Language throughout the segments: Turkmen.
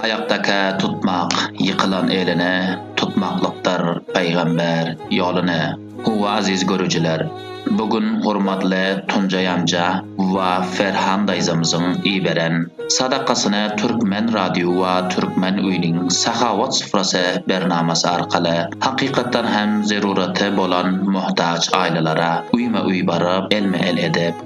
Aýakdakä tutmak, ýykylan eline tutmaklykdyr Pygamber ýoly ne. Howwa aziz görüjiler, bu gün hormatly Tunjaý anja wa Ferhan daýzamyzyň iberen sadakasyny Türkmen radio wa Türkmen uynyň Sahawat sufrasy bernamasy arkaly hakykatdan hem zeruraty bolan muhtaç aýlalara uýma uý baryp elme el edip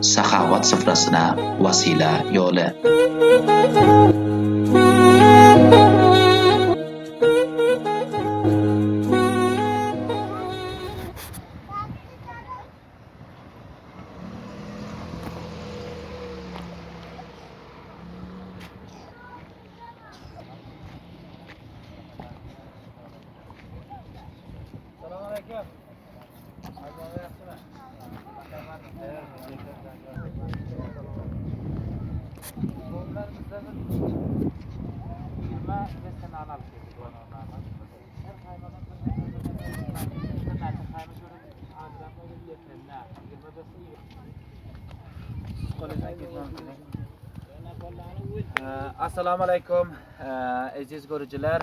Sahawat syfrasyna wasyla ýole. Assalamu aleykum, eziz görüjiler.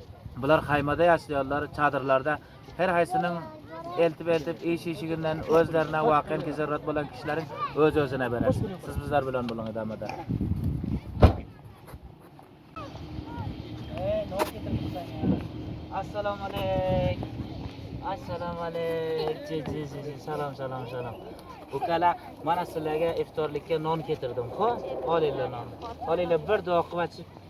Bular haýmada ýaşaýarlar, çadyrlarda. Her haýsynyň eltip-eltip, iş-işiginden, özlerine wak-enki zerurýet bolan kişileriň öz-özüne beren. Siz bizler bilen boluň edamada. Eee, not getirmişsen ýa. Assalamu aleyk. Assalamu aleyk. Ji, ji, ji, ji. Salam, salam, salam. Ukala, mana sizlerge iftorlikke non getirdim. Ho, ol ile non. Ol ile bir dokyp açyp,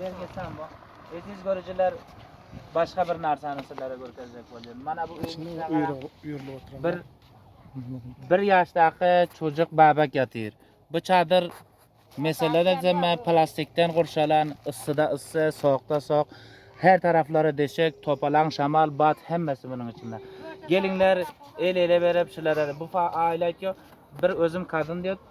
Belki tamam. Ediz görüjiler başga bir narsany sizlere görkezjek bolýar. Mana bu bir bir ýaşdaky çocuk babak ýatyr. Bu çadyr meselede jemä plastikden gurşalan, yssyda yssy, soğukda soğuk. Her taraflary deşek, topalan, şamal, bat hemmesi bunun içinde. Gelinler el ele berip şulara bu aileýtýo bir özüm kadın diýip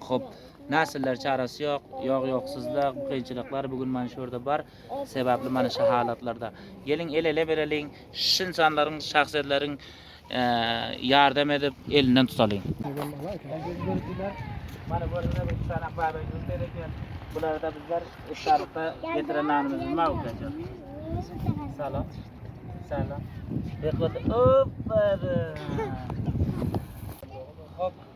Hop, näsiller çarasy ýok, ýog-ýogsyzlyk, kynçylyklar bu gün mana şu ýerde bar, sebäpli mana şu halatlarda. Geliň el-ele bereliň, şu ynsanlaryň, şahsyýetleriň ýardam edip, elinden tutalyň. Aziz görüjiler, mana görüňiz bu çanak baby ýurt bereken. Bularda bizler iftarlykda getiren nanymyzy magutlajak. Salam. Salam. Bekle. Hop. Hop.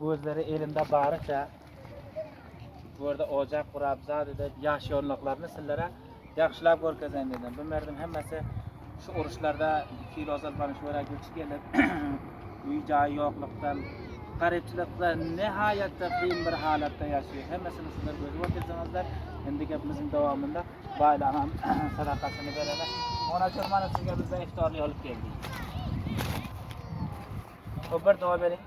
Özleri elinde baryça bu ýerde ojak gurap, zat edip ýaşaýanlyklaryny sizlere ýagşylap görkezeýin diýdim. Bu merdim hemmesi şu uruşlarda iki ýyl ozal bana şu ýere göçüp gelip, öý jaýy ýoklukdan, garypçylykda nähaýatda kyn bir halatda ýaşaýar. Hemmesini sizler görüp oturdyňyzlar. Indi gepimiziň dowamynda baýlagam sadakasyny bereli. Ona çormany sizge bizde iftarly alyp geldik. Obar dowa beriň.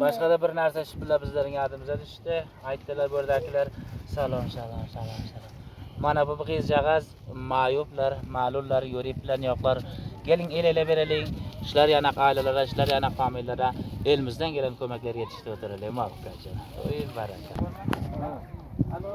Başga-da bir narsa şpylla bizleriň ýadymyza düşdi. Aýtdylar burdaklar, salon, salon, salon, salon. Mana bu gyzjagaz maýuplar, malullar, ýörip bilen ýoklar. Geliň el-ele bereliň. Şular ýanak aýlalara, şular ýanak famillara elimizden gelen kömekleri ýetişdirip oturalym, wagtlaýjak. Oý, baraka. Alo.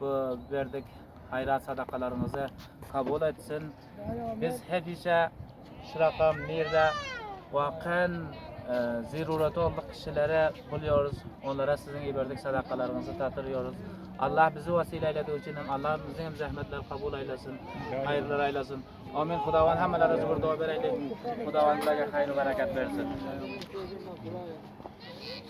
bu berdik haýrat sadakalaryňyzy kabul etsin. Biz hemişe şuraka mirde wakan e, zeruraty bolan kişilere bolýarys. Onlara siziň iberdik sadakalaryňyzy tatyrýarys. Allah bizi wasile eýlediği üçin hem Allah biziň hem zähmetleri kabul eýlesin. Haýyrlar eýlesin. Amin. Hudawan hammalara zübür doga bereýlik. Hudawan bize haýyr bereket bersin.